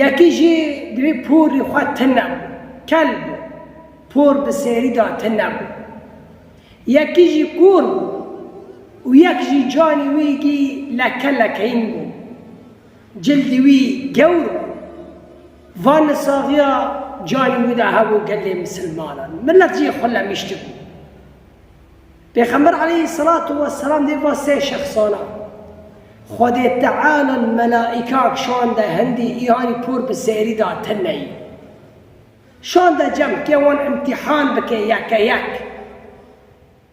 Yekî jî divê porî xwe tune bû, kel bû, por bi serî de tune bû. Yekî jî kûr bû û yek jî canî wî gî leke lekeyin bû. Cildî wî gewr bû. Van li saxiya canî wî de hebû gelê misilmanan. Milet jî xwe lemiştibû. Pêxember aleyhî selatu weselam dê va sê şexsana, Xwedê Teala li melaîkak şan de hindî îyanî por bi sêrî da tineyî. Şan de cem kê wan îmtîhan bike yeke yek.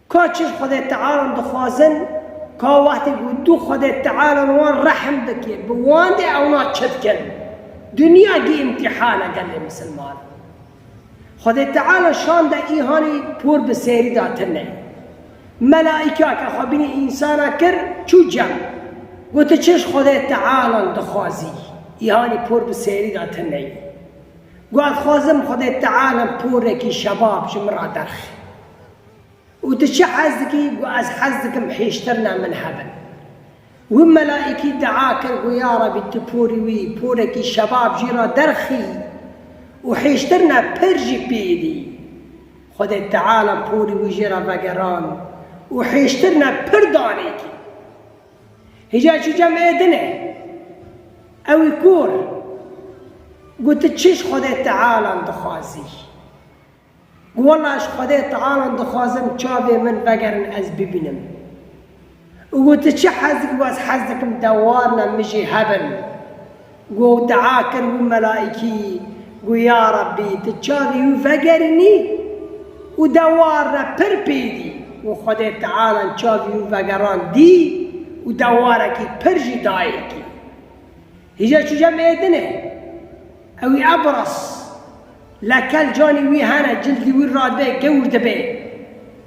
Ka çiş Xwedê Tealan dixwazin, ka wextê ku du Xwedê Teala li wan rehm bike, bi wan dê ewna çi dikin? Dinya gî îmtîhan e gelê misilman. Xwedê Teala şan de îhanî por bi sêrî da tine. Melaîka ke xwe bînî însana kir çû cem. Gotu çiş Xwedê Tealan dixwazî? Îhanî por bi sêrî da tine. Got, Xwazim Xwedê Teala porekî şebab ji min ra derxe. Û tu çi hez dikî? Got, Ez hez dikim hêştirina min hebin. Wî melaîkî dua kir, got, Ya Rebî tu porî wî, porekî şebab jî re derxî û hêştirina pir jî pê dî. Xwedê Teala porî wî jê re vegerand û hêştirina pir danê kî. Hêja çû cem ê din e. Ew ê kor. Got, Tu çiş Xwedê Tealan dixwazî? Wela ji Xwedê Tealan dixwazim çavê min vegerin ez bibînim. Û tu çi hez dikî wez hez dikim te warine min jî hebin. Û ew dua kir wî melaîkî û ya Rebbî tu çavê wî vegerînî û de warine pir pêdî. Û Xwedê Tealan çavê wî vegerand dî û de warekî pir jî dayê kî. Hije çuje mêdine ew ê Ebras lekel canê wî hene cildê wî rade gewr dibe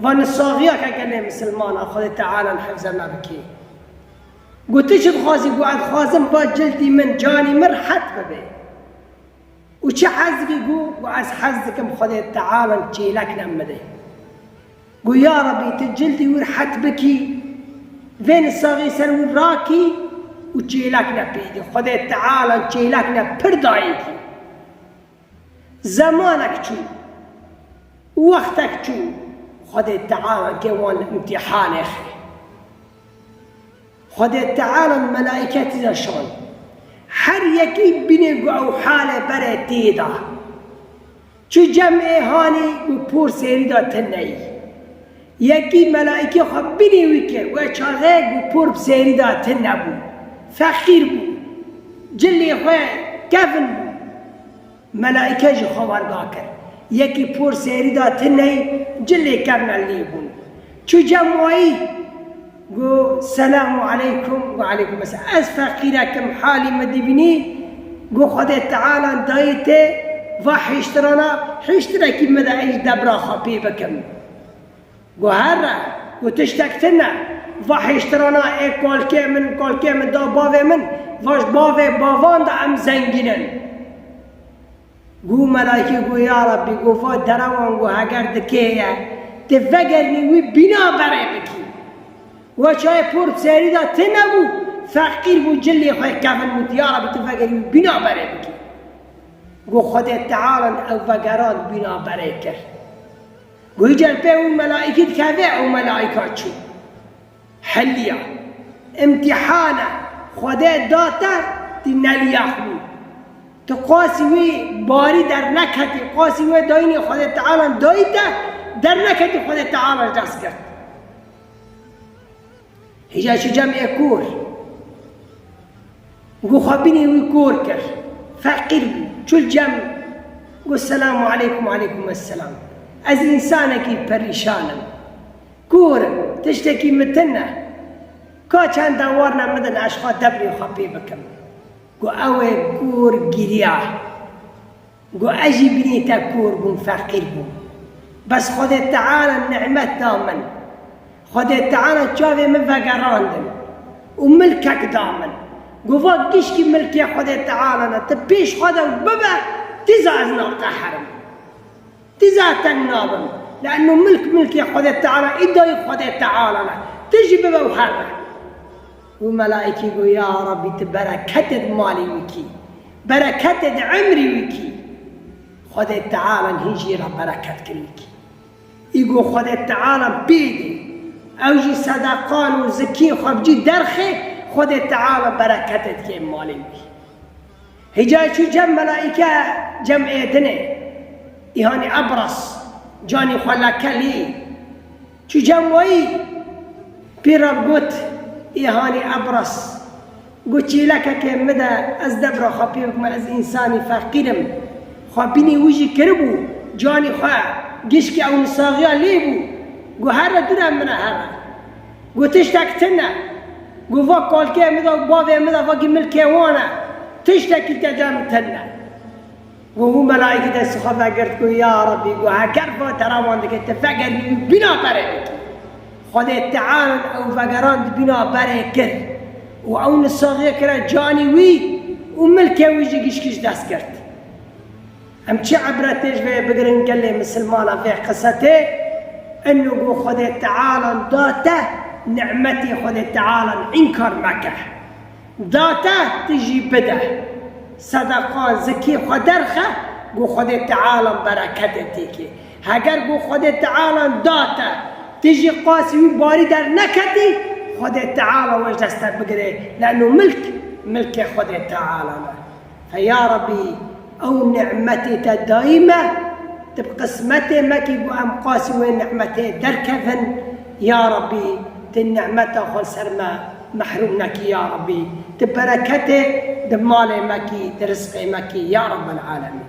va ni saxiya ke gelê misilman a Xwedê Tealan hifze me bike. Got tu çi dixwazî got ez dixwazim ba cildê min canê min rihet bibe. Û çi hez dikî got ez hez dikim Xwedê Tealan çêlek nem bide. Got, Ya Rebî, tu cildê wî rihet bikî, vê nisaxê ser wî rakî û çêlek ne pê dî. Xwedê Teala çêlek ne pir dayê dî. Zemanek çû, wextek çû, Xwedê Teala kê wan li îmtîhanê xwe. Xwedê Teala melaîketî de şand. Her yekî bînê ku ew halê berê tê de. Çi cem ê hanî û por sêrî da te neyî. Yekî melaîkê xwe binî wî kir we çarxek û por bi sêrî da te nebû. Feqîr bû. Cilê xwe kevn bû. Melaîke jî xwe werga kir. Yekî por sêrî da te neyî cilê kevna lê bûn. Çi cem wayî. Go selam û aleykum go aleykum eselam ez feqîrek im halî min dibînî go Xwedê Teala dayê te va hiştirana hiştirekî min de êj debra xwe pê bikim go herre go tiştek tune va hiştirana ê kalkê min kalkê min da bavê min vaj bavê bavan de em zengîn in. Gû Melaykî got, Ya Rabbî, got va derewan got heger di kê ye, ti vegerinî wî bîna berê bikî. Wa çayê por bi serî da ti nebû, feqîr bû cilê xwe kevin got, Ya Rabbî, ti vegerinî wî bîna berê bikî. Got Xwedê Tealan ew vegeran bîna berê kir. Got îcar pê û Melaykî dikeve û Melayka çû. Heliya, îmtîhana Xwedê da te, tî neliya xwî. Tu qasî wî barî derneketî, qasî wê dayînê Xwedê Tealan dayî te, derneketî Xwedê Teala ji dest girt. Hêja çi cem ê kor. Gu xwe bînî wî kor kir. Feqîr bû. Çul cem gu selamu aleykum aleykum esselam. Ez însanekî perîşan im. Kûr im, tiştekî min tin e. Ka çanda warna midin ez xwe debrê xwe pê bikim. Gu ew ê kûr giriya. Gu ez jî bînî te kûr bûm feqîr bûm. Bes Xwedê Teala nîmet da min. Xwedê Teala çavê min vegerandin û milkek da min. Gu va gişkî milkê Xwedê Teala ne, ti pêş xwe de bibe, tîza ez nateherim. Ti zaten nabin. Le'nno milk milkê Xwedê Teala, îdayê Xwedê Teala ne. Ti jî bibe û her be. Û melaîkî got, Ya Rabbî ti bereketê di malê wî kî, bereketê di emrî wî kî. Xwedê Tealan hîn jî ra bereket kirî kî. Î got, Xwedê Teala pê dê. Ew jî sedeqan û zikiyên xwe bicî derxê, Xwedê Teala bereketê dikê malê wî. Hicayê çû cem melaîke cem Êdinê, îhanî Ebras, canî xwe lekelî. Çû cem wayî, pîr ra got, Îhanî Ebras, got çîlekekê min de ez debra xwe pê bikime, ez însanî feqîr im. Xwe bînî wijî kiribû, canî xwe gişkî ewnisaxiya lê bû. Got herre dûre min re herre. Gu tiştek tune. Gu va kalkê min de û bavê min de vagî milkê wan e. Tiştekî te de min tune. Gu hû melaîkî destê xwe vegirt gu ya Rabbî gu heker va teraman dike ti vegerî û bîna berê bikî. Xwedê Teal ew vegerand bîna berê kir û ew nisaxê kire canî wî û milkê wî jî gişgij dest girt. Em çi îbretê ji vê bigirin gelê misilmana vê qisetê inu gu Xwedê Tealan da te nimetê Xwedê Tealan înkar meke. Da te tu jî bide. Sedeqa zikî xwe derxe gu Xwedê Tealan bereketê têkê. Heger gu Xwedê Tealan da te tu jî qasî wî barî derneketî Xwedê Teala we ji dest te bigire lanu milk milkê Xwedê Tealan e. He ya Rebî ew nî'metê te dayî me, tu bi qismetê me kî ku em qasî wê nî'metê derkevin, ya Rebî tu nî'meta xwe li ser me mehrûm nekî ya Rebî, tu bereketê di malê me kî, di rizqê me kî ya Rebel'alemîn.